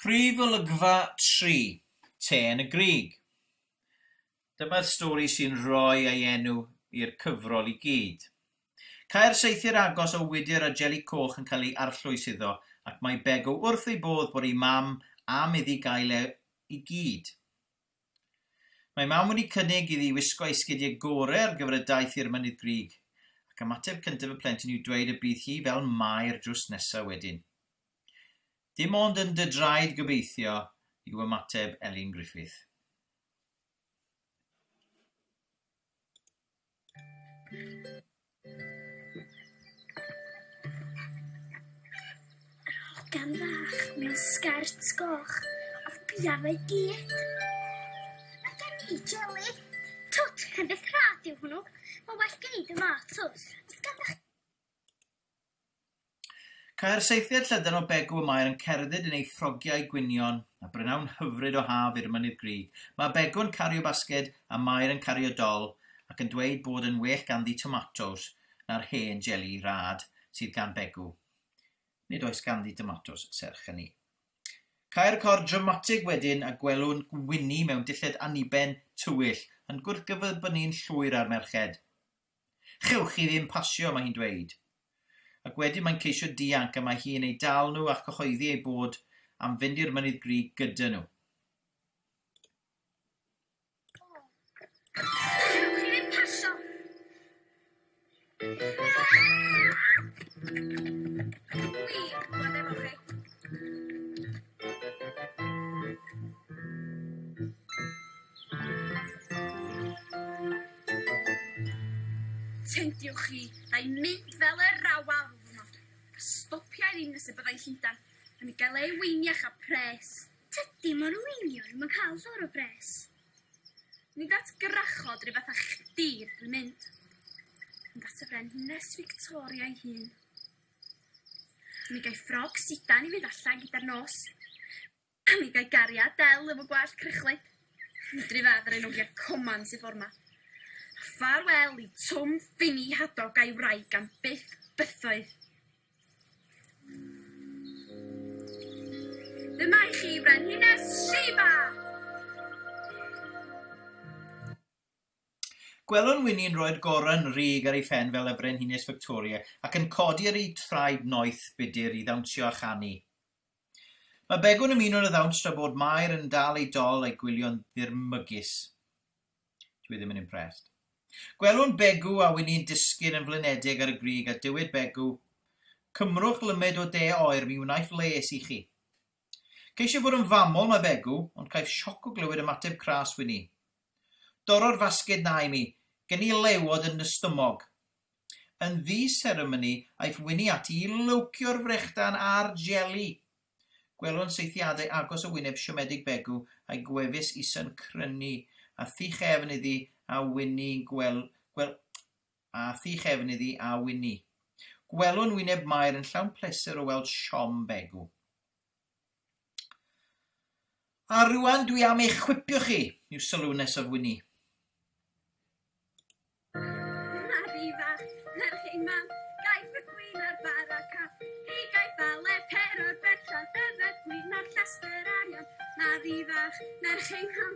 Prif olygfa tri, Te yn y Grug. Dyma'r stori sy'n rhoi ei enw i'r cyfrol i gyd. Caer saethyr agos o wydr a jeli coch yn cael ei arllwys iddo ac mae Begw wrth ei bodd bod ei mam am iddi gael e i gyd. Mae Mam wedi cynnig iddi wisgo ei sgidiau gore ar gyfer y daith i'r Mynydd Grug, ac ymateb cyntaf y plentyn yw dweud y bydd hi fel Mair drws nesa wedyn. Dim ond yn dy draed gobeithio, yw ymateb Elin Griffith. Hogan fach mewn sgert goch a biau gig. Mae gen i jeli. Twt, pen beth rhad yw hwnnw. Mae well gen i dy mat, twt. Os ganddo chi... Cae'r saethiad llydan o Begw y Maer yn cerdded yn ei ffrogiau gwynion, a brynawn hyfryd o haf i'r Mynydd Grug. Mae Begw yn cario basged, a Maer yn cario dol, ac yn dweud bod yn well ganddi tomatos na'r hen jeli rad sydd gan Begw. Nid oes ganddi domatos, serch hynny. Cae'r cor dramatig wedyn a gwelwn Wini mewn dilled aniben tywyll yn gwrthgyferbynu'n llwyr â'r merched. Chewch chi ddim pasio, mae hi'n dweud. Ac wedyn mae'n ceisio dianc a mae hi yn eu dal nhw a chyhoeddi eu bod am fynd i'r Mynydd Grug gyda nhw. Tediwch chi, na i mynd fel yr rawal rw ddwrnod, a stopia i ddim nes y byddai'n Llundan yn ei gael ei weiniach a pres. Tydi mo'r weiniau ddim yn cael llawer o bres. Nid at gwrachod rhyw fath a chdi rydw i'n mynd, ond at y Frenhines Fictoria ei hun. Mi gai ffrog sidan i fynd allan gyda'r nos. A mi gai gariad del efo gwallt crychlyd. Medru fedd ar ei nogia coman sy ffor ma. A ffarwel i Twm Ffini Hadog a'i wraig am byth bythoedd. Dyma i chi Frenhines Sheba! Gwelwn Wini'n rhoi'r gorren rug ar ei phen fel y Frenhines Victoria ac yn codi ar ei thraed noeth budr i ddawnsio a chanu. Mae Begw'n ymuno'n y ddawns tra bod Mair yn dal ei dol a'i gwylio'n ddirmygus. Dw i ddim yn impressed. Gwelwn Begw a Wini'n disgyn yn flinedig ar y grug a dywed Begw, Cymrwch lymyd o de oer, mi wnaiff les i chi. Ceisiaf fod yn famol, mae Begw, ond caiff sioc o glywed ymateb cras Wini. Dorro'r fasged 'na i mi, gen i lewod yn 'y stymog. Yn ddi-seremoni, aiff Wini ati i lywcio'r frechdan a'r jeli. Gwelwn saethiadau agos o wyneb siomedig Begw a'i gwefus isa'n crynu, a thŷ chefn iddi a Wini'n gwel-, gwel-, a thu chefn iddi a Wini. Gwelwn wyneb Mair yn llawn pleser o weld siom Begw. A rŵan dwi am eich chwipio chi, yw sylw nesaf Wini. Mari fach, merch ein ham,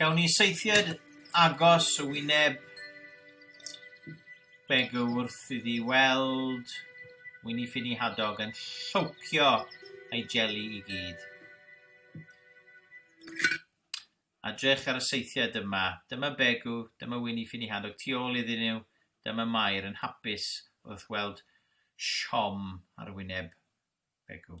Gawn ni seithiad agos y wyneb beg wrth iddi weld Wini Ffini Hadog yn llowcio ei jeli i gyd. A drech ar y seithiad yma, dyma Begw, dyma Wini Ffini Hadog tu ôl iddyn nhw, dyma Mair yn hapus wrth weld siom ar wyneb Begw.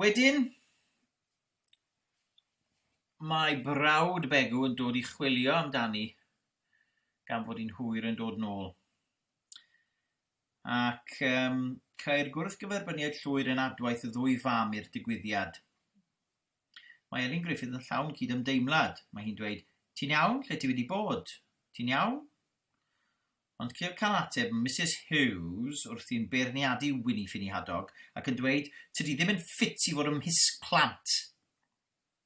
Wedyn, mae brawd Begw yn dod i chwilio amdani gan fod hi'n hwyr yn dod nôl. Ac yym ceir gwrthgyferbyniad llwyr yn adwaith y ddwy fam i'r digwyddiad. Mae Elin Griffith yn llawn cyd-ymdeimlad. Mae hi'n dweud, Ti'n iawn? Lle ti wedi bod? Ti'n iawn? Ond ceir cael ateb Misus Hughes wrthi'n beirniadu Wini Ffini Hadog ac yn dweud, Tydi ddim yn ffit i fod ymhisg plant!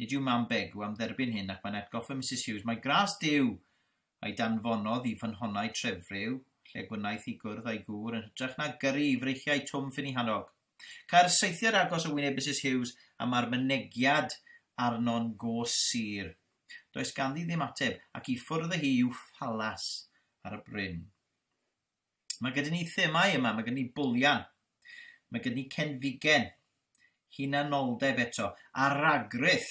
Nid yw mam Begw am dderbyn hyn ac mae'n atgoffa Misus Hughes mai gras Duw a'i danfonodd i fynhonnau trefryw, lle gwnaeth i gwrdd a'i gŵr yn hytrach na gyrru i freichiau Twm Finihanog. Cae'r saethiad agos o wyneb Misus Hughes a mae'r mynegiad arno'n go sur. Does ganddi ddim ateb, ac i ffwrdd â hi i'w phalas ar y bryn. Mae gyda ni themau yma, mae gyda ni bwlian, mae gyda ni cenfigen, hunanoldeb eto, a ragrith,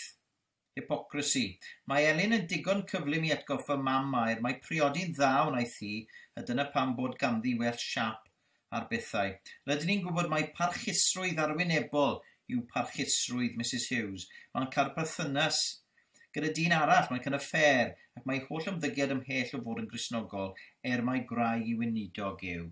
hypocrisy. Mae Elin yn digon cyflym i atgoffa mam Mair mae priodi'n dda wnaeth hi, a dyna pam bod ganddi well siap ar bethau. Rydyn ni'n gwybod mai parchusrwydd arwynebol yw parchusrwydd Misus Hughes. Mae'n cael perthynas Gyda dyn arall, mae'n cynnau ffêr, ac mae ei holl ymddygiad ymhell o fod yn Gristnogol, er mai gwraig i weinidog yw.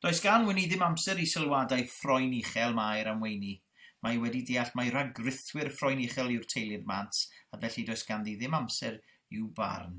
Does gan Wini ddim amser i sylwadau ffroen uchel Mair am Weini. Mae hi wedi deall mai rhagrithwyr ffroen uchel yw'r teulu'r Mant, a felly does ganddi ddim amser i'w barn.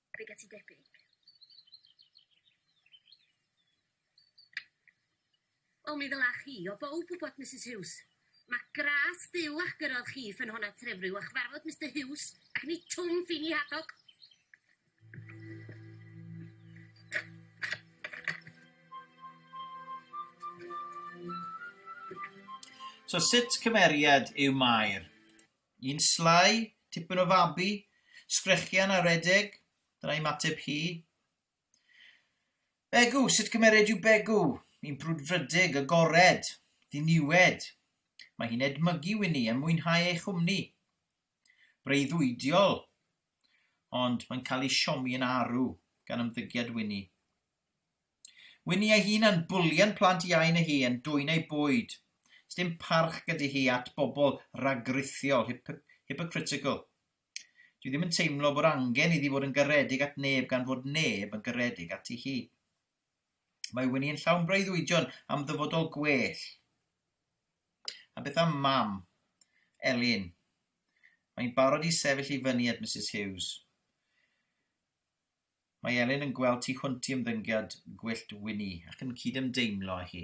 Be get ti debyg? Wel mi ddylach chi o bowb wybod Misus Huws. Ma gras Duw a'ch gyrrodd chi i ffynhonnau Trefriw a chyfarfod Mister Huws ac ni twm ffini Hadog. So sut cymeriad yw Mair? Yn slai, tipyn o fabi, sgrechian a redeg, dyna ymateb hi. Begw, sut cymered yw Begw? Yn brwdfrydig, agored, ddiniwed. Mae hi'n edmygu Wini a mwynhau ei chwmni. Breuddwydiol, ond mae'n cael ei siomi yn arw gan ymddygiad Wini. Winnie ei hun yn bwlio'n plant iau na hi yn dwyn eu bwyd. Sdim parch gyda hi at bobl ragrithiol, hip hypocritical. Dwi ddim yn teimlo bod angen iddi fod yn garedig at neb gan fod neb yn garedig ati hi. Mae Winnie yn llawn breuddwydion am ddyfodol gwell. A beth am mam, Elin? Mae'n barod i sefyll i fyny at Mrs Hughes. Mae Elin yn gweld tu hwnt i ymddyngiad gwyllt Winnie ac yn cydymdeimlo â hi.